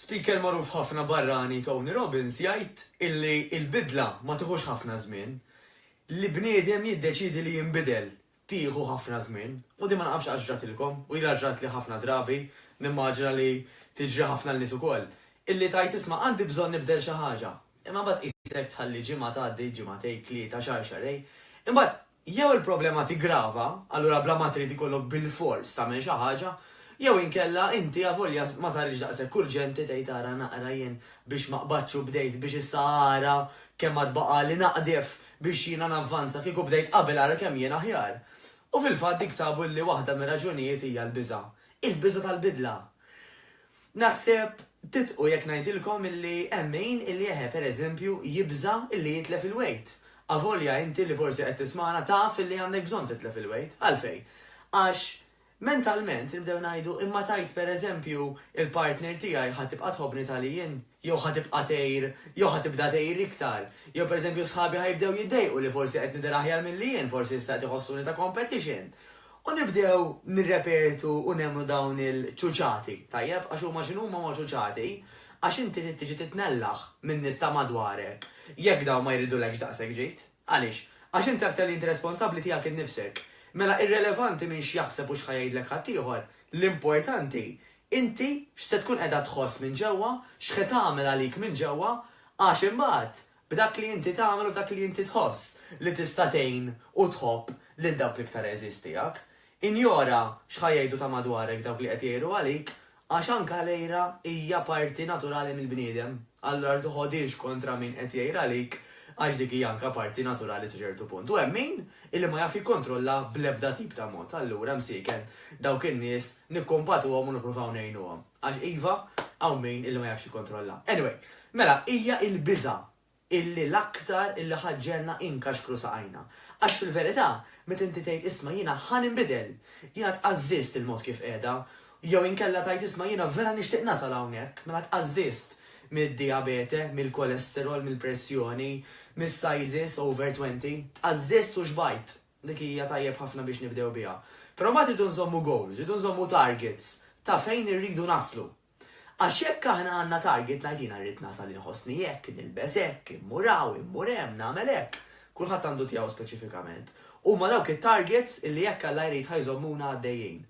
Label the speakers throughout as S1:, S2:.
S1: Speaker magħruf ħafna barrani Tony Robbins jgħid illi l-bidla ma tieħux ħafna żmien. Li bniedem jiddeċiedi li jinbidel tieħu ħafna żmien u din ma nafx għax ġratilkom u ilha ġratli ħafna drabi, nimmaġina li tiġri ħafna lin-nies ukoll, illi tgħid isma' għandi bżonn nibdel xi ħaġa, imma mbagħad qisek tħalli ġimgħa tgħaddi, ġimagħtej, tlieta, xahar, xahrejn, imbagħad Jew il-problema tiggrava, allura bla ma trid ikollok bilfors tagħmel xi ħaġa, jew inkella inti avolja ma saritx daqshekk urġenti tgħid ara naqra jien biex ma qbadtx u bdejt biex issa ara kemm għad baqagħli naqdef biex jiena navvanza kieku bdejt qabel ara kemm jien aħjar. U fil-fatt dik sabu li waħda mir-raġunijiet hija l-biża'. Il-biża' tal-bidla. Naħseb tidħku jekk ngħidilkom illi hemm min illi eħe per eżempju jibża' illi jitlef il-wejt. Avolja inti li forsi qed tismagħna taf illi għandek bżonn titlef il-wejt. Għalfejn? Għax mentalment nibdew ngħidu imma tgħid per eżempju il-partner tiegħi ħa tibqa' tħobbni tali jien? jew ħa tibqa' tgħir, jew ħa tibda tgħir iktar, jew pereżempju sħabi ħa jibdew jiddejqu li forsi qed nidher aħjar milli jien, forsi issa qed iħossuni ta' competition. U nibdew nirrepetu u nemmnu dawn il-ċuċati, tajjeb, għax huma x'inhuma huma ċuċati, għax inti trid tiġi titnellaħ min-nies ta' madwarek jekk dawn ma jridulekx daqshekk ġid. Għaliex? Għax inti aktar li inti responsabbli tiegħek innifsek. Mela irrelevanti min x'jaħseb u x'ħa jgħidlek ħaddieħor, l-importanti inti x'se tkun qiegħda tħoss minn ġewwa, x'ħe tagħmel għalik minn ġewwa, għax imbagħad b'dak li inti tagħmel u b'dak li inti tħoss li tista' tgħin u tħobb lil dawk l-iktar għeżież tiegħek. Injora x'ħa jgħidu ta' madwarek dawk li qed jgħiru għalik, Għax anke l-għira hija parti naturali mill-bniedem, allura ma toħodhiex kontra min qed jgħir għalik għax dik hija anke parti naturali sa ċertu punt. U hemm min illi ma jaf jikkontrollha bl-ebda tip ta' mod. Allura, msieken, dawk in-nies nikkumpatuhom u nippruvaw ngħinuhom. Għax iva, hawn min illi ma jafx jikkontrollha. Anyway, mela hija l-biża' illi l-aktar illi ħa ġġegħelna inkaxkru saqajna. Għax fil-verità, meta inti tgħid isma' jiena ħa ninbidel, jiena tqażżiżt il-mod kif qiegħda, jew inkella tgħid isma' jiena vera nixtieq nasal hawnhekk, mela tqażżiżt mid-dijabete, mill-kolesterol, mill-pressjoni, mis-sizes over twenty, tqażżiżt u xbajt. Dik hija tajjeb ħafna biex nibdew biha. Però mbagħad irridu nżommu goals, irridu nżommu targets ta' fejn irridu naslu. Għax jekk aħna għandna target ngħid jiena rrid nasal inħossni hekk, nilbes hekk, immur hawn, immur hemm, nagħmel hekk, kulħadd għandu tiegħu speċifikament. Huma dawk it-targets illi jekk Alla jrid ħa jżommuna għaddejjin.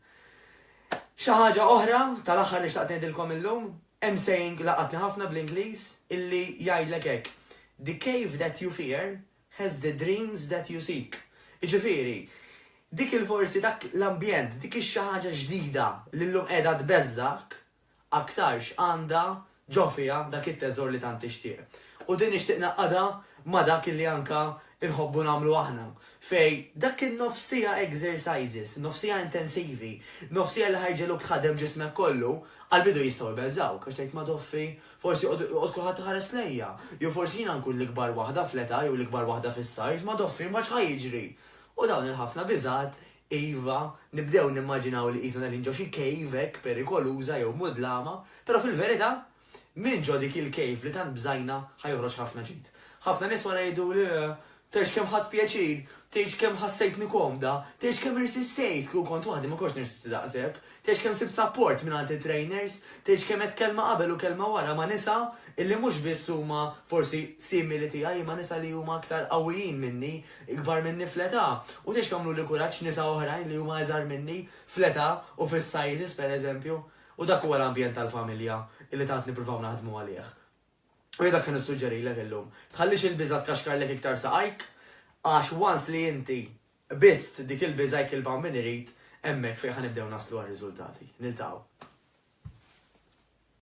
S1: Xi ħaġa oħra tal-aħħar li xtaqt ngħidilkom illum, hemm saying laqatni ħafna bl-Ingliż illi jgħidlek hekk, The cave that you fear has the dreams that you seek. Jiġifieri, dik il-forsi dak l-ambjent, dik ix-xi ħaġa ġdida li llum qiegħda tbeżżgħek, aktarx għandha ġo fiha dak it-teżor li tant tixtieq. U din nixtieq ngħaqqadha ma' dak illi anke nħobbu nagħmlu aħna, fejn dak in-nofs siegħa exercises, nofs siegħa intensivi, nofs siegħa li ħa jġegħluk tħaddem ġismek kollu, għall-bidu jistgħu jbeżżgħuk għax tgħid madoffi Forsi joqgħod kulħadd iħares lejja. Jew forsi jiena nkun l-ikbar waħda fl-età jew l-ikbar waħda fis-size, ma doffri mbagħad x'ħa jiġri? U dawn il-ħafna biżgħat, iva, nibdew nimmaġinaw li qisna qegħdin ġo xi cave hekk perikoluża jew mudlama, però fil-verità, minn ġo dik il-cave li tant bżajna ħa joħroġ ħafna ġid. Ħafna nies wara jgħiduli, Tgħidx kemm ħadt pjaċir, tgħidx kemm ħassejtni komda, tgħidx kemm irsistejt, kieku kont waħdi ma kontx nirsisti daqshekk, tgħidx kemm sibt sapport mingħand it-trainers, tgħidx kemm għedt kelma qabel u kelma wara ma' nisa illi mhux biss huma forsi simili tiegħi imma nisa li huma aktar qawwijin minni, ikbar minni fl-età, u tgħidx kemm għamluli kuraġġ nisa oħrajn li huma iżgħar minni fl-età u fis-sizes pereżempju. U dak huwa l-ambjent tal-familja illi tant nippruvaw naħdmu għalih. U jien dak se nissuġġerilek illum. Tħallix il-biża' tkaxkarlek iktar saqajk, għax once li inti qbist dik il-biża' jekk il-Paw Min irid, hemmhekk fejn ħa nibdew naslu għar-riżultati. Niltaqgħu.